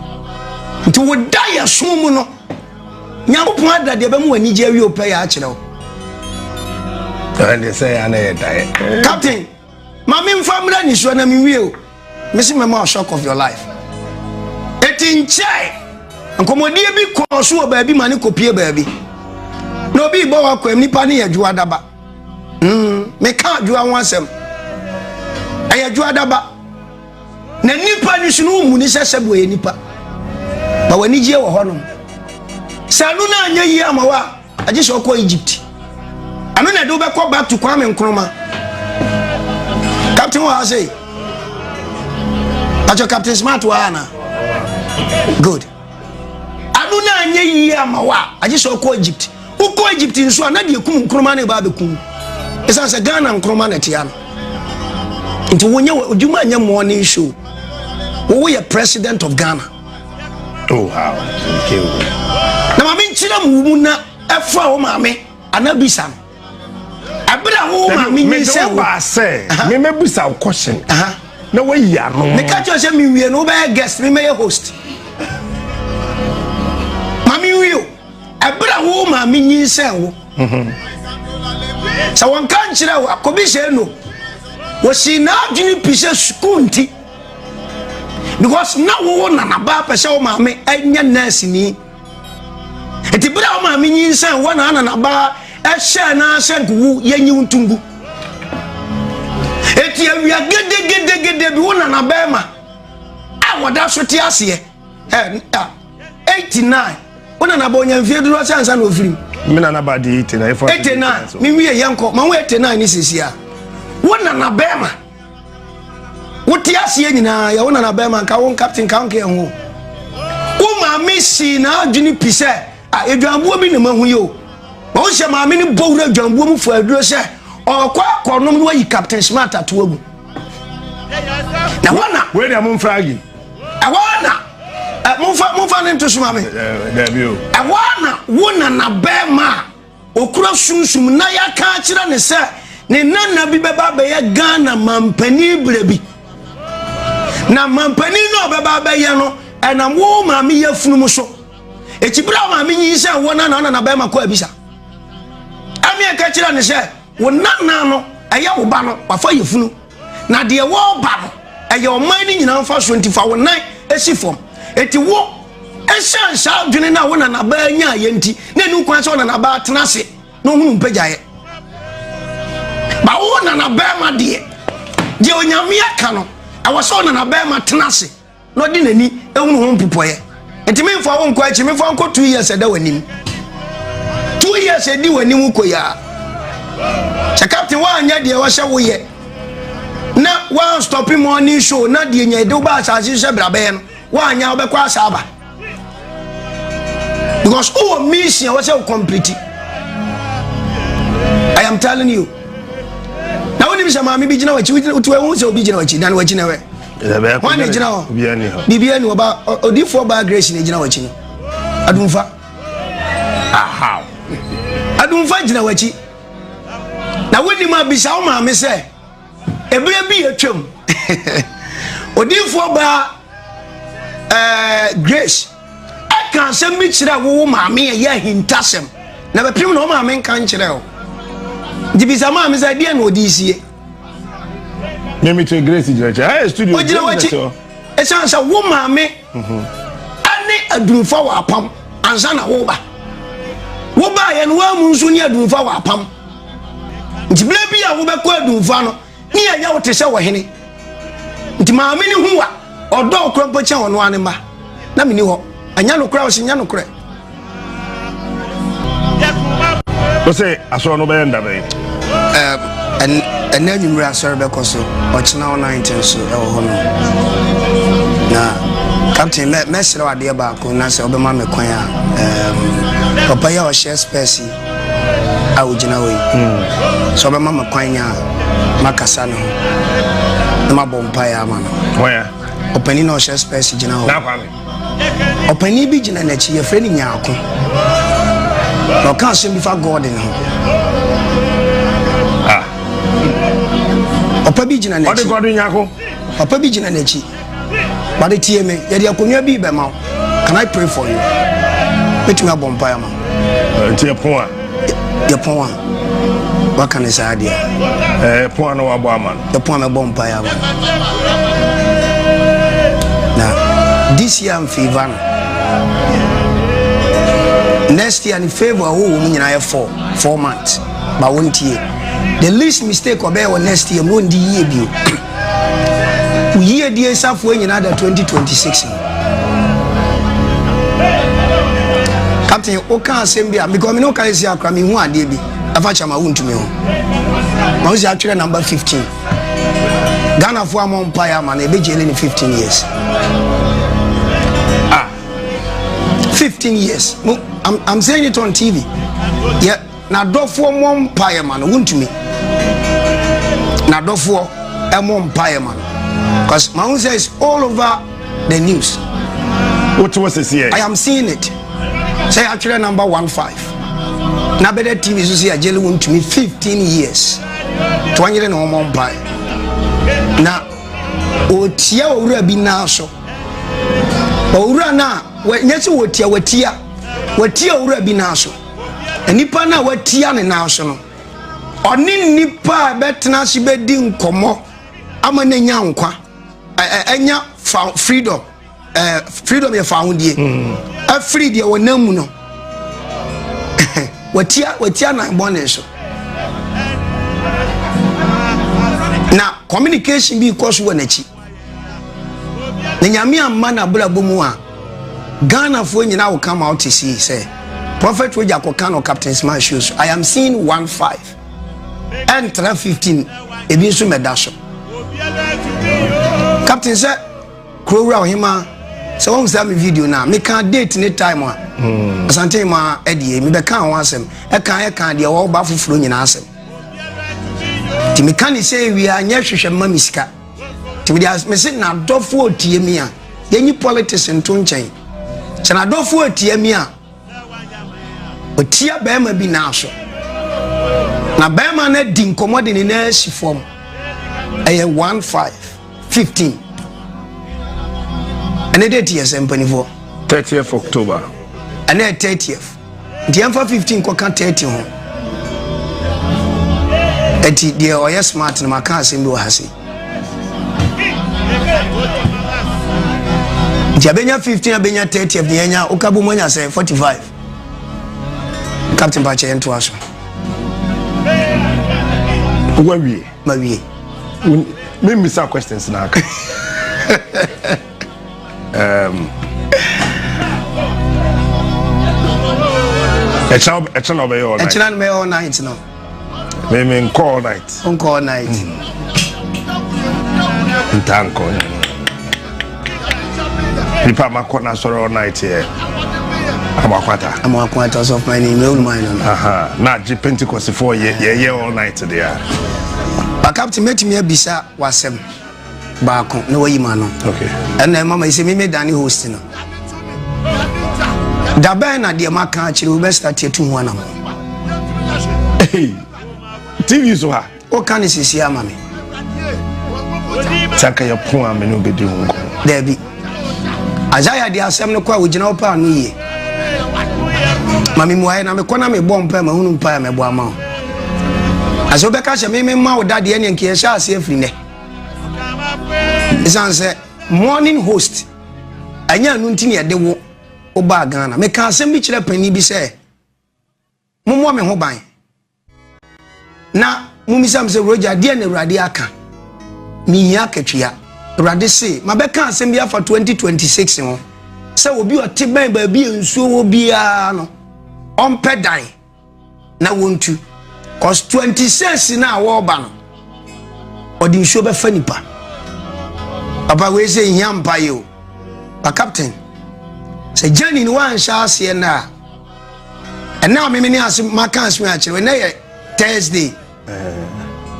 A: nti woda yɛ so mu no nyankopɔn ada deɛ bɛma w'anigye awie wopɛ yɛ akyerɛ wo
B: ɛne sɛ yɛ ana yɛ daeɛ captain
A: Ma me nfa mmra nisua na me nwie o. Me se mɛma wa shock of your life. Eti nkyɛe. Nkɔmɔdie bi kɔɔ so wɔ baabi ma ne kɔpie baabi. Na obi bɔ wa kwam nipa ne yɛ adwoa daba. Mm, me ka adwoa ho asɛm. Ɛyɛ adwoa daba. Na nipa ni so no mu ni sɛ sɛ bo yɛ nipa. Ba wani gye wɔ hɔ no. Sɛ no na anya yi ama wa. Agye sɛ ɔkɔ Egypt. Ɛno na ɛde wobɛkɔ back to Kwame Nkrumah. Captain wɔ ha sei. Pacho Captain Smart wɔ ha na. Good. Ɛno na anyɛ yie ama wo a, agye sɛ ɔkɔ Egypt. Wokɔ Egypt nso a, na deɛ kum Nkrumah no ɛba abɛkum. Ɛsiane sɛ Ghana Nkrumah na ɛtea no. Nti wonyɛ wɔ, odwuma nyɛ morning show. Wowo yɛ president of Ghana. Oh,
B: how? Na maame
A: nkyerɛ mu mu na ɛfura wo maame ana bisa no. Ɛbere a wo maame nyi sɛ wo. Mede sɛ meme
B: bisa wo question. Na wayi ano. Meka kyerɛ sɛ mewie
A: no wobɛyɛ guest memɛyɛ host. Maame nwie o. Ɛbere a wo maame nyi sɛ wo. Mhm. Sɛ wɔn ka nkyerɛ wo akɔbi sɛ no. Wɔsi n'adwene pi sɛ sukuu nti. because na wowo nanabaa pɛ sɛ wo maame ɛnyɛ nurse ni nti berɛ a wo maame nyinsɛn wɔ na nanabaa ɛhyɛ no sɛ nkowu yɛnyi wo ntongu ɛti awia gedegedegede bi wo nanabaa ma a wɔda so te aseɛ ɛnta 89 wo nanabaa ɔnya mfie dodoɔ sɛ ansa na ɔfirim me nanabaa de
B: 89 89 mewie yɛnkɔ
A: ma wo 89 ne sesia wo nanabaa ma wote aseɛ nyinaa yɛ wo nana bɛrima nka wo captain nka wo nkeɛ ho wo maame sii n'adwene pi sɛ a adwanbuo bi na mahu yi o ma wo sɛ maame no bɔ wura adwanbuo mu fo aduro sɛ ɔkɔ akɔnom no ayi captain smart ato agu na hɔ na wei deɛ momfra agi
B: ɛhɔ na
A: momfa momfa ne nto so ma me ɛhɔ
B: na
A: wo nana bɛrima a Ɔkura sunsum na yɛaka akyerɛ no sɛ ne nana bi bɛba abɛyɛ Ghana mampanin berɛ bi. Na mampanin no a ɔbɛba abɛyɛ no ɛnam wo maame yafunu mu so. Eti berɛ a maame nyinsɛn wo nana na nabɛrima kɔ abisa. Ɛne ɛka kyerɛ no sɛ wo nana no ɛyɛ wo ba no wafa yafunu. na deɛ wɔreba no ɛyɛ ɔman no nyinaa mfa so nti fa wo nan si fam eti wo ɛhyɛn saa adwene no a wo nanabaa nya ayɛ nti na ɛnu kwan sɛ ɔnanabaa tena ase na ɔhunu mpagyaeɛ ba wo nanabɛrima deɛ deɛ onyame aka no ɛwɔ sɛ ɔnanabɛrima tena ase na ɔde n'ani hunu ho mpupɔeɛ nti memfa wo nkɔ akyi memfa nkɔ two years ɛda w'anim two years ɛdi w'anim wo kɔ yia sɛ captain woanyɛ deɛ wɔhyɛ woyɛ na woanstɔpe morning show na deɛ nya ɛde wobɛ asase sɛ brabɛyɛ no woanyɛ wobɛkɔ asaaba because wowɔ mission a wɔ sɛ wo complete i am telling you na wonim sɛ maame bi gyina wakyi wotu ɛho sɛ obi gyina wakyi dan wakyi na wɛ wɔn na gyina hɔ biribi ani ɔba odiifoɔ baa grace na gyina wakyi no adumfa adumfa gyina wakyi na wonim abisa wo maame sɛ Ɛberɛ bi atwam, odiyifoɔ baa eh, Grace ɛka asɛm bi kyerɛ wowo maame ɛyɛ ahintasɛm na bɛpem na ɔmaame nka nkyerɛ o nti bisa maame sɛ ɛdeɛ na ɔde sie
B: Mimi to Grace gyina kyɛ. Ɛyɛ studio. Ogyina wakyi.
A: Ɛsan sɛ wo maame Ɛne adurumfa wɔ apam ansa na woba. Wobaeɛ no woamu nso ne adurumfa wɔ apam. Nti berɛ bi a wobɛkɔ adurumfa no ne yɛyɛ wo te sɛ ɔhene. Nti maame no hu wa ɔdɔ wo korɔ mpo kyɛn ɔno ara ne mma. Na menni hɔ. Ɛnyɛ nokorɛ, ɔse nyɛ nokorɛ.
B: wosɛ asɔre no bɛyɛ nda bɛn ɛnɛ
A: anwummere asɔre bɛkɔ so ɔkyena wo nante nso ɛwɔ hɔ no na captain mɛserɛ wo adeɛ baako na sɛ wobɛma me kwan a papa yi a ɔhyɛ spɛs yi a wogyina hɔ yi hmm. sɛ wobɛma me kwan nya makasa ne ho na mabɔ mpaeɛ ama no ɔpani
B: na ɔhyɛ
A: spɛs gyina hɔ
B: Ɔpanin
A: bi gyina n'akyi, yɛfrɛ no Nyaako. Na ɔka asɛm bi fa Gordon ho. Ah. Ɔpa bi gyina n'akyi. Ɔde Gordon Nyaako.
B: Ɔpa bi gyina
A: n'akyi. Bade tie me, yɛde akonnwa bi bɛma wo. Can I pray for you? Mɛtumi abɔ mpaeɛ ma. Nti ɛpon
B: a. yɛpɔn a
A: waka ne saa deɛ eh, pɔn a na
B: wabɔ ama no yɛpɔn a mɛbɔ mpaeɛ ama
A: no na this year mfeeva no next year ne favor a wowɔ mu nyinaa yɛ four four months ba wontie the least mistake ɔbɛyɛ wɔ next year mu ɔndi yie bio Wo yiedie safoa nyinaa da 2026 mu. Captain, woka asɛm bi a because me ne woka ɛsi akora mehu adeɛ bi ɛfa kyɛ ma wontumi ho. Ma wosi atwerɛ number 15. Ghanafoɔ amɔ mpaeɛ ama no ɛbɛgyele ne 15 years. Ah, 15 years. I'm, I'm saying it on TV. Yeah. N'adɔfoɔ mmɔ mpaeɛ ma no wontumi n'adɔfoɔ ɛmmɔ mpaeɛ ma no because my own says all over the news. What
B: was this here? I am seeing it.
A: Say actually number one five. Now better TV so say Ajeli won to me 15 years. To one year no more pie. Now o tia owura bi na so. Owura na nyɛ sɛ wɔtia wɔtia wɔtia owura bi na so. Nnipa no a wɔatia ne nan so no, ɔne nnipa a ɛbɛtena ase bɛdi nkɔmmɔ ama no anya nkwa, anya freedom, freedom yɛ fa ahodie, hmm. afiri deɛ wɔnam mu no, wɔatia wɔatia nan bɔne so. Na communication bi kɔ so wɔ n'akyi. na nyame amma n'abrabɔ mu a ghanafoɔ nyina wo ka ma wote sei sɛ prophet wagya kɔka no captain smart show so i am seeing 1 5 ɛntra 15 ebi nso mɛda so captain sɛ kuro wura ɔhema sɛ wɔn sɛ mi video na meka date ne time a hmm. asante ma ɛdeɛ mebɛka ho asɛm ɛka ɛka deɛ wɔba foforɔ nyinaa asɛm nti meka ne sɛ awia nyɛ hwehwɛ mma me sika nti mede as mese n'adɔfoɔ otie mi a yɛnyi politics nto nkyɛn sɛ n'adɔfoɔ otie mi a otia bɛrima bi n'aso na bɛrima no adi nkɔmɔ de ne nan asi fam ɛyɛ one five fifteen ɛne de tiɛ sɛ mpanimfoɔ thirtieth october
B: ɛne
A: thirtieth. Nti yɛmfa 15 nkɔka 30 ho. Ɛti deɛ ɔyɛ smart no maka asɛm bi wɔ ha se. Nti abɛnya 15 abɛnya 30 abɛnya nya woka bom anya sɛ 45. Captain Pakyɛ yɛn to aso.
B: Wawie. Mawie. Memmisa questions na aka. Um, ɛkyɛn ɛkyɛn na ɔbɛyɛ all night. ɛkyɛn na ɔbɛyɛ all night no.
A: mi mi
B: nkɔ all night. nkɔ all night. Mm. nta nkɔ yɛ. nipa ma kɔ na sɔrɔ all night yɛ. amakwata. amakwata
A: sɔ fún ɛni mi olùmọ̀ yẹn nọ. na agye
B: pentikɔsi fún ọ yẹ yẹ all night de ya. ba
A: captain mẹtìmí ẹ bisa wàsẹm. baako na wayi ma no ɛna ɛma ma
B: ɛsɛ me
A: me dane host no dabɛn na deɛ maka akyerɛ wobɛsra tiatu ho anam
B: tv so ha woka ne sesie ama
A: me sɛ
B: kɛyɛ po a mene wobɛdi ho nkɔ daabi
A: isaiah de asɛm no kɔ a wogyina wo paa no yie ma memuaeɛ na mekɔ na mebɔ mpa mahunu mpa a mɛbɔ ama wo asɛ wobɛka hyɛ me memma wo dadeɛ ne nkeyɛhyɛ aseɛ afiri nɛ ɛsiane sɛ morning host ɛnyɛ ano nti ne ɛde wo wobaa ghana meka asɛm bi kyerɛ pani bi sɛ mommɔ me ho ban na momisam sɛ wuragya deɛ na awurade aka mehia akatua awurade se mabɛka asɛm bi afa 2026 ho sɛ obi ɔte bɛn baabi a nsuo wɔ biara no ɔmpɛ dan na wontu cause twenty six na wɔreba no ɔde nsuo bɛfa nipa papa wei sɛ nhia mpa yi o pa captain sɛ gyani ni wanhyɛ aseɛ nna a ɛnna a mimi ne ase maka asome akyerɛ ɛnna yɛ thursday eh.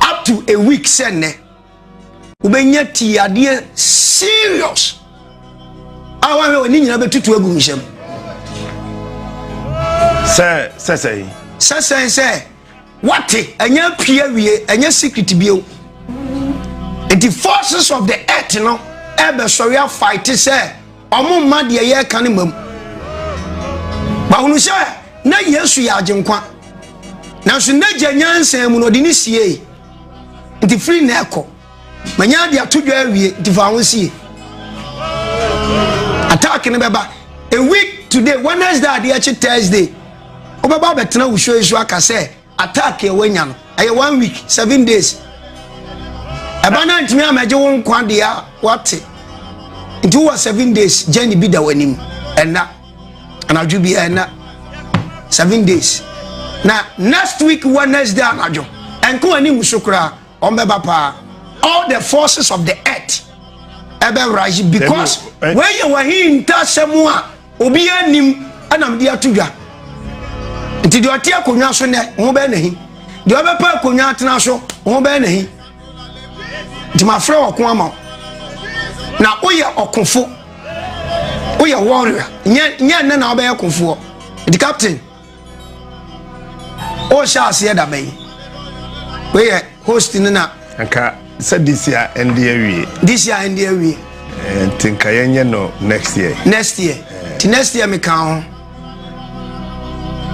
A: up to a week sɛ nnɛ. wobɛnya tiadeɛ serious a woahwɛ wɔ ne nyinaa bɛtutu agu nhyɛm sɛ sɛsɛe sɛsɛe sɛ wate ɛnyɛ apue awie ɛnyɛ secret bio nti forces of the earth no ɛbɛsɔre afaete sɛ ɔmo mma deɛ yɛreka no mmam bahunu sɛ na yesu yɛ agyenkwa nanso n'agya nyansa mu no ɔde ne siei Nti firi nnɛ rekɔ, manya ade ato dwa awie, nti fa ho sie. Attack no bɛba a week today Wednesday ade akyi Thursday wobɛba abɛtena wo show yi so aka sɛ attack a wanya no ɛyɛ one week seven days. Ɛba no antumi amɛgye wo nkwa deɛ a wate nti wowɔ seven days journey bi da w'anim ɛnna. anadwo bi ɛna seven days na next week wednesday anadwo ɛnko ani nso koraa wɔn bɛba paa all the forces of the earth ɛbɛ rise because wɔyɛ wɔhin ntaasɛm a obi anim ɛnam de ato dwa nti deɛ ɔte akonnwa so nɛ ho bɛyɛ n'ahi deɛ ɔbɛpɛ akonnwa atena so ho bɛyɛ n'ahi nti mafrɛ ɔko ama na woyɛ ɔkofo woyɛ warrior nyɛ nyɛ nnɛ na wobɛyɛ kofoɔ nti captain wohyɛ aseɛ da bɛyi wei yɛ host no na nka sɛ
B: this year ɛnde awie this year ɛnde awie eh, nti nka yɛnyɛ no next year next year eh. nti next
A: year meka ho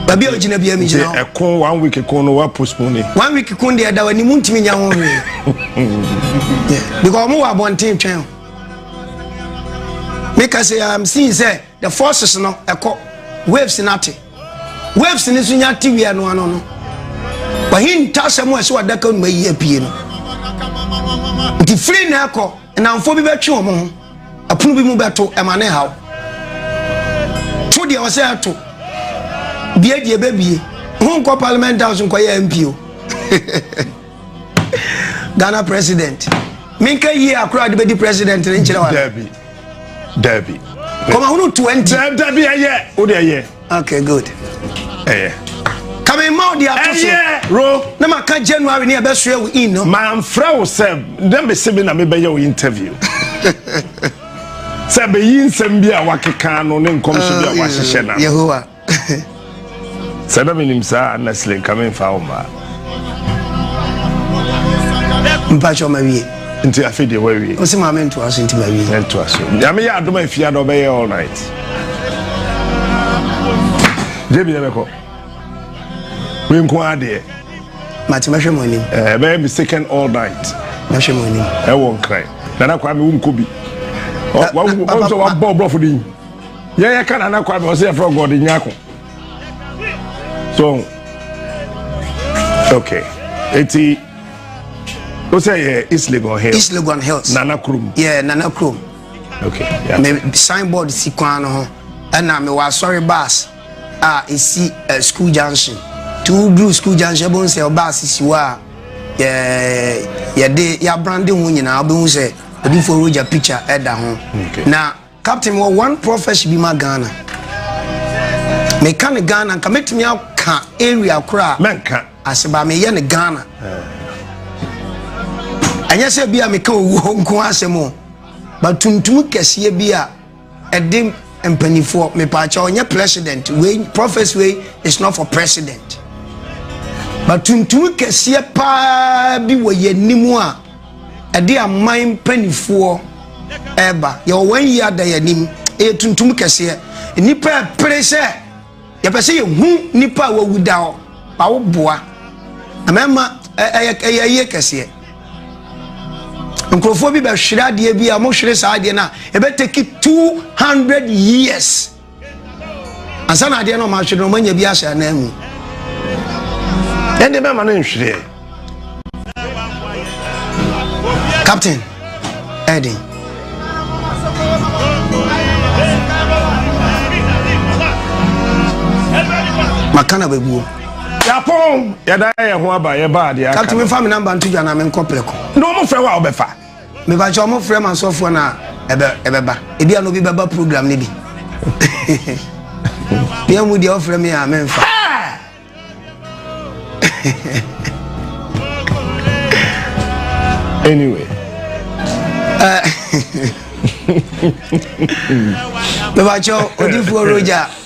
A: baabi a ogyina bia megyina hɔ ɛko one week ko
B: no wa postpone one week ko deɛ da
A: w'anim ntumi nya ho hwee because ɔmo wɔ abɔnten twɛn meka sɛ am seeing sɛ the forces no ɛkɔ waves no ate waves no nso nya te wia no ano no wahi ntasɛm a ɛsɛ wadaka numa yi apue no nti firi na ɛkɔ nnamfoɔ bi bɛtwe wɔn ho ɛpono bi mu bɛto ɛma ne haw to deɛ ɔsɛ ɛto bie deɛ bɛbie ho nkɔ parliament house nkɔyɛ mpo ghana president menka yie akora de bɛdi president ne nkyerɛ wa dabi dabi
B: kɔmahunu 20
A: dabi ɛyɛ
B: wode ɛyɛ
A: okay good ɛyɛ
B: kame
A: ma ɔde ato so ɛyɛ ro na maka
B: january ne
A: ɛbɛsoɛ wo in no mamfrɛ wo sɛ
B: na mese me na mebɛyɛ wo interview sɛ bɛyi nsɛm bi a wakeka no ne nkɔmhyɛ bi a ah, wahyehyɛ na yehowa Sɛ na menim saa a na sile nka memfa wo mmaa.
A: Mpakyɛ ma wie. Nti afei deɛ
B: wawie. Ɔsi maame ntoa so nti
A: ma wie. Ntoa so. Nyame yɛ
B: adom afie ada ɔbɛyɛ all night. Jebi na bɛkɔ. Wei nko adeɛ. Mate mɛhwɛ
A: mo anim. Ɛbɛyɛ eh, mistaken all
B: night. Mɛhwɛ mo anim.
A: Ɛwɔ nkran.
B: Nana kwa mi wo nkɔ bi. Wɔn sɔ wa bɔ ɔbrɔfo din. yɛ yɛ ka nana kwame ɔsɛ yɛfrɛ gɔde nyako so okay eti o sɛ yɛ east legon hills east legon hills nana
A: kurom yɛ nana
B: kurom
A: okay
B: yeah. me signboard
A: si kwan no ho ɛna me wɔ asɔre bus a esi uh, school junction two blue school junction ɛbɛn sɛ ɔbus si hɔ a yɛ yɛde yabrande ho nyinaa ɔbɛn ho sɛ odifo roger picture ɛda ho okay. na. Captain mewɔ one prophecy bi ma Ghana meka ne Ghana nka mɛtumi aka area koro a mɛnka ase ba
B: meyɛ ne
A: Ghana ɛnyɛ sɛ bi a meka owuo nko asɛm o batuntum kɛseɛ bi a ɛde mpanimfoɔ mepaakyɛ ɔnyɛ president wei prophecy wei is not for president batuntum kɛseɛ paa bi wɔ yɛn anim a ɛde aman mpanimfoɔ ɛreba. Yɛwɔ wɔn yie ada yɛn anim. Ɛyɛ tuntum kɛseɛ. Nnipa ɛpere sɛ yɛpɛ sɛ yɛhu nnipa a wɔawu da hɔ ma woboa. Na mɛma ɛyɛ yie kɛseɛ. Nkurɔfoɔ bi bɛhwere adeɛ bi a wɔhwere saa adeɛ no a ɛbɛtaki 200 years. ansa na adeɛ no ɔma ahwere no ɔma nya bi ahyɛ anan mu ɛnde
B: bɛma no nhwereɛ
A: captain ɛden maka na bɛguo yɛapɔn
B: yɛda yɛ ho aba yɛba adeɛ aka captain mefa me namba nto dwa
A: na menkɔ prɛko na ɔmofrɛ wo a wobɛfa
B: Mebakyɛ ɔmo
A: frɛ ma asɔfoɔ na ɛbɛ ɛbɛba. Ebi a na obi bɛba program ne bi. Yɛn mu deɛ ɔfrɛ mi a menfa.
B: anyway.
A: Mebakyɛ odifoɔ Roger.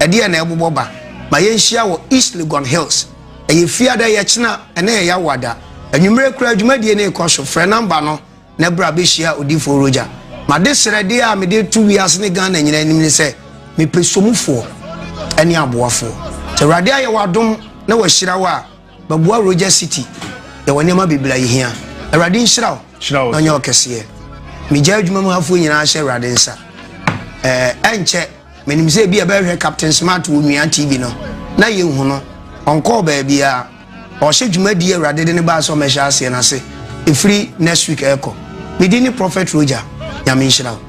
A: Ɛdeɛn na ɛbobɔ ba ma yɛnhyia wɔ East Legon Hills? Ɛyɛ fiada, ɛyɛ kyena, ɛnɛ yɛ yawada. Anwummere koraa dwumadie no rekɔ so. Frɛ namba no na bra bɛhyia Odifoɔ Roger. M'adesrɛdeɛ a mede to wiase ne Ghana nyinaa anim ne sɛ, mepɛ somufoɔ ɛne aboafoɔ. Sɛ Awurade ayɛ w'adom na wahyira wo a, bɛboa Roger City. Yɛwɔ nneɛma bebree a yɛhia. Awurade nhyira wo na ɔnyɛ ɔkɛseɛ. Megya adwuma mu hafoɔ nyinaa hyɛ Awurade nsa. Ɛɛ ɛnkyɛ. Menim sɛ ebi a ɛbɛhwɛ Captain Smart wɔ Nua TV no, na yɛnhu no. Ɔnkɔɔ baabiara. Ɔhyɛ dwumadie Awurade de no baa sɛ ɔmmɛhyɛ aseɛ no ase ɛfiri next week ɛrekɔ. Me din ne Prophet Roger. Nyame nhyira wo.